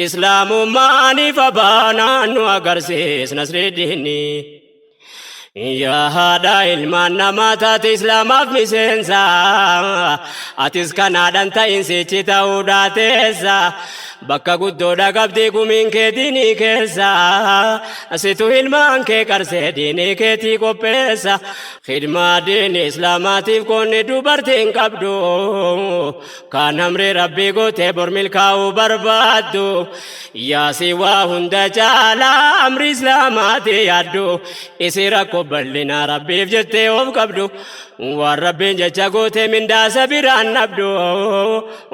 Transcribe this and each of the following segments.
Islaamummaan ifa baanaan nu agarsiis nasriiddiinni. Yaa haadha ilmaan namaa taate islaamaaf miseensa atis kanaadhaan ta'insichi ta'uu daateessa bakka guddoodha qabdii gumiin kee diinii keessa situ ilmaan kee qarsee diinii keetii qopheessa khidmaa diinii islaamaatiif koonni dubartiin qabdu Kan amri rabbii gootee bor milkaa'uu barbaaddu Yaasi waa hunda caalaa amri islaamaati yaaddu Isi rakko bal'ina rabbiif jettee of qabdu Waan rabbiin jecha gootee mindaasa biraan dhabdu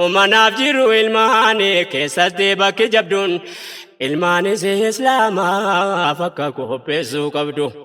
Umanaaf jiru ilmaani keessatti bakki jabduun Ilmaanis islaamaaf akka qopheessuu qabdu.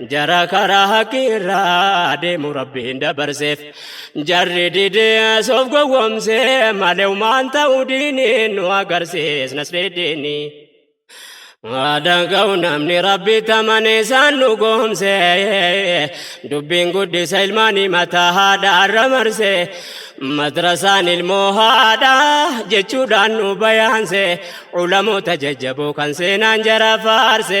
Jara karaa haqiirraa deemu rabbiin dabarseef jarri didees of gowwomse malewmaan ta'u diiniin nu agarsiisnas dhidhiini. Aadaan ka'u namni rabbi tamane isaan nu goomse dubbiin guddisa ilmaanii mataa haadha irra marse madrasaan ilmoo haadha jechuudhaan nu bayaanse ulamoota jajjaboo kan seenaan jara faarse.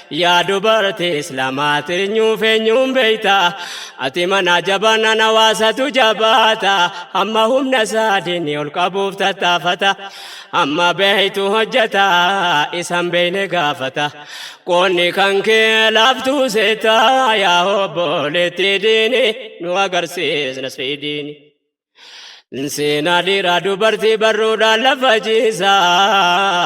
Yaa dubartii islaamaa tirnyuuf eenyuun beeyta ati mana jabaanaan hawaasatu jabaata amma humna isaa diinni ol qabuuf tattaafata amma beeytu hojjata isan beeyne gaafata qoonni kan kee laaftuu seeta yaa obboleettii diini nu agarsiis nasrii diini. Seenaa dhiiraa dubartii barruudhaan lafa ciisaa.